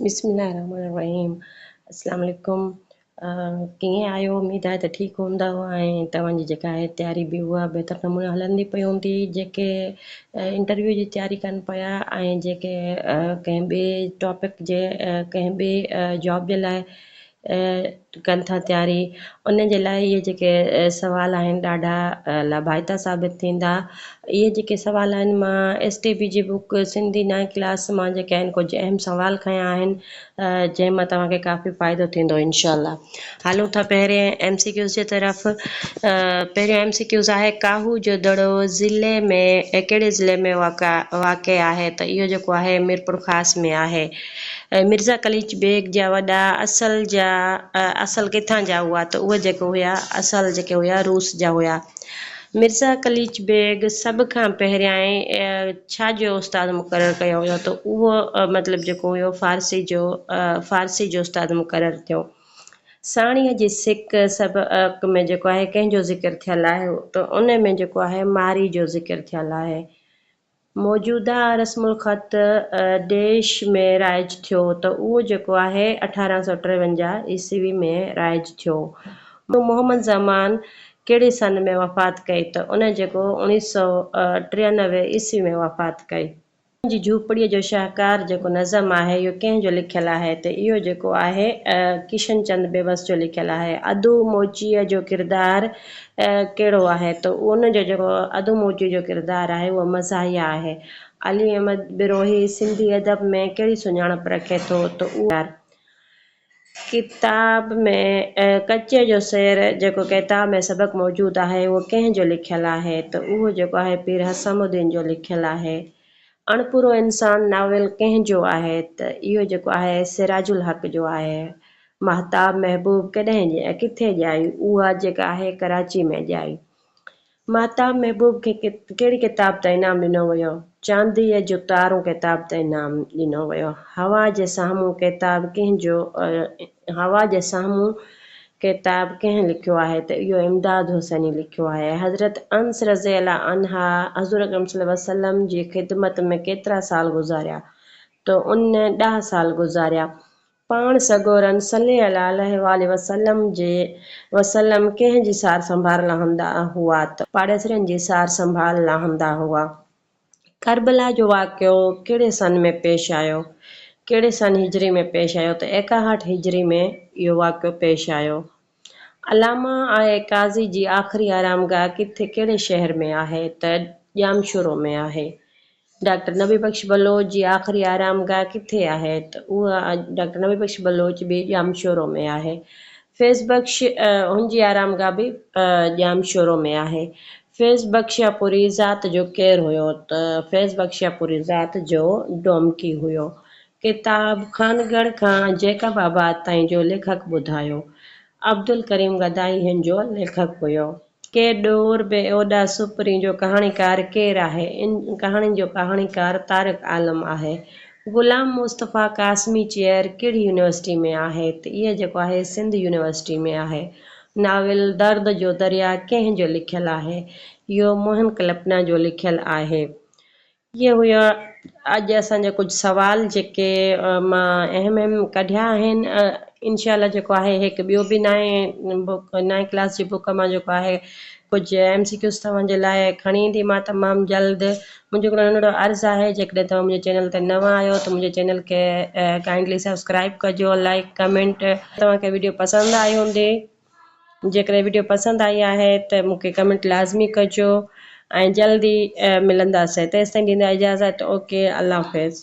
بسم الله الرحمن الرحيم اسلام عليڪم ڪيئن آهيو اميد آهي ته ٺيڪ هوندؤ ۽ توهان جي جيڪا آهي تياري به اها بهتر نموني هلندي پئي هوندي جيڪي انٽرويو جي تياري ڪن پيا ۽ جيڪي ڪنهن ٻئي ٽاپڪ جي ڪنهن ٻئي جاب جي لاء ڪن ٿا تياري ان جي لاء اهي جيڪي سوال آهن ڏاڍا لاڀائتا ثابت ٿيندا اهي جيڪي سوال آهن مان ايس ٽي بي جي بوڪ سنڌي نائين ڪلاس مان جيڪي آهن ڪجهه اهم سوال کنيا آهن جنهن مان توهان کي ڪافي فائدو ٿيندو انشاء الله هلون ٿا پهرين ايم سي ڪيوز جي طرف پهريون ايم سي ڪيوز آهي ڪاهو جو دڙو ضلعي ۾ ڪهڙي ضلعي ۾ واقع واقع آهي ته اهو جيڪو آهي ميرپور خاص ۾ آهي مرزا قليچ بيگ جا وڏا اصل جا اصل ڪٿان جا هئا ته اهي جيڪي هيا اصل جيڪي هيا روس جا هيا. مرزا قليچ بيگ سڀ کان پهريائين ڇا جو استاد مقرر ڪيو ويو ته اهو مطلب جيڪو هيو فارسي جو فارسي جو استاد مقرر ٿيو. ساڻيهه جي سڪ سبق ۾ جيڪو آهي ڪنهن جو ذڪر ٿيل آهي ته ان ۾ جيڪو آهي ماري جو ذڪر ٿيل آهي. موجوده رسم الخط ڊيش ۾ رائج ٿيو ته اهو جيڪو آهي اٺارهن سؤ ٽيونجاهه عيسوي ۾ رائج ٿيو. مون محمد زمان ڪهڙي سن ۾ وفات ڪئي ته ان جيڪو اوڻيهه سؤ ٽيانوي عيسوي ۾ وفات ڪئي. ان جي جهوپڙيء جو شهڪار جيڪو نظم آهي اهو ڪنهن جو لکيل آهي ته اهو جيڪو آهي ڪشن چند بيوس جو لکيل آهي. ادو موچيء جو ڪردار ڪهڙو آهي ته ان جو جيڪو اڌ موچي جو ڪردار آهي اهو مزاحيه آهي. علي احمد بروهي سنڌي ادب ۾ ڪهڙي سڃاڻپ رکي ٿو ته اهو آهي ته ڪتاب ۾ ڪچي جو شعر جيڪو ڪتاب ۾ سبق موجود آهي اهو ڪنهن جو لکيل آهي ته اهو جيڪو آهي پير حسام الدين جو لکيل آهي. اڻپورو انسان ناول ڪنهن جو آهي ته اهو جيڪو آهي سراج الحق جو آهي. ماهتاب محبوب ڪڏهن ڄائي ۽ ڪٿي ڄائي؟ اها جيڪا آهي ڪراچي ۾ ڄائي. ماهتاب محبوب کي ڪهڙي ڪتاب تان انعام ڏنو ويو؟ چانديء جو تارو ڪتاب تان انعام ڏنو ويو. هوا جي سامهون ڪتاب ڪنهن جو هوا جي سامهون ڪتاب ڪنهن لکيو آهي ته اهو امداد حسيني لکيو آهي. حضرت انس رضي الله عنه حضور اڪرم صلي الله عليه وسلم جي خدمت ۾ ڪيترا سال گذاريا ته ان ڏهه سال گذاريا. پاڻ سڳورن صلي الله عليه واٰله وسلم جي وسلم ڪنهن جي سار سنڀال لهندا هئا ته پاڙيسرين جي سار سنڀال لهندا هئا. ڪربلا جو واقعو ڪهڙي سن ۾ پيش آيو؟ ڪهڙي سن هجري ۾ پيش آيو ته ايڪاهٺ هجري ۾ اهو واقعو پيش آيو. علامه آء قاضي جي آخري آرامگاهه ڪٿي ڪهڙي شهر ۾ آهي ته ڄامشورو ۾ آهي. ڊاڪٽر نبي بخش بلوچ جي آخري آرامگاهه ڪٿي آهي ته اها ڊاڪٽر نبي بخش بلوچ به ڄامشورو ۾ آهي. فيض بخش هن جي آرامگاهه به ڄامشورو ۾ آهي. فيض بخشياپوري ذات جو ڪير هيو ته فيض بخشياپوري ذات جو ڊومڪي هيو. ڪتاب خانڳڙهه کان جيڪب آباد تائين جو ليکڪ ٻڌايو. عبدالڪريم گدائي هن جو ليکڪ هيو. ڪي ڏور بي اوڏا سپرين جو ڪهاڻيڪار ڪير آهي؟ ان ڪهاڻي جو ڪهاڻيڪار طارق عالم آهي. غلام مصطفيٰ قاسمي چيئر ڪهڙي يونيورسٽي ۾ آهي؟ ته اهي جيڪو آهي سنڌ يونيورسٽي ۾ آهي. ناول درد جو درياء ڪنهن جو لکيل آهي؟ اهو موهن ڪلپنا جو لکيل آهي. اهي هيا اڄ اسان جا ڪجهه سوال جيڪي مان اهم اهم ڪڍيا آهن انشاء الله جيڪو آهي هيڪ ٻيو به نائين بوڪ نائين ڪلاس جي بوڪ مان جيڪو آهي ڪجهه ايم سي ڪيوز توهان جي لاء کڻي ايندي مان تمام جلد منهنجو هڪڙو ننڍڙو عرض آهي جيڪڏهن توهان منهنجي چينل تي نوان آهيو ته منهنجي چينل کي ڪائنڊلي سبسڪرائب ڪجو لائڪ ڪمينٽ توهان کي ويڊيو پسند آئي هوندي جيڪڏهن وڊيو پسند آئي آهي ته مون کي ڪمينٽ لازمي ڪجو ۽ جلد ئي ملنداسين تيستائين ڏيندا اجازت اوڪي الله حافظ.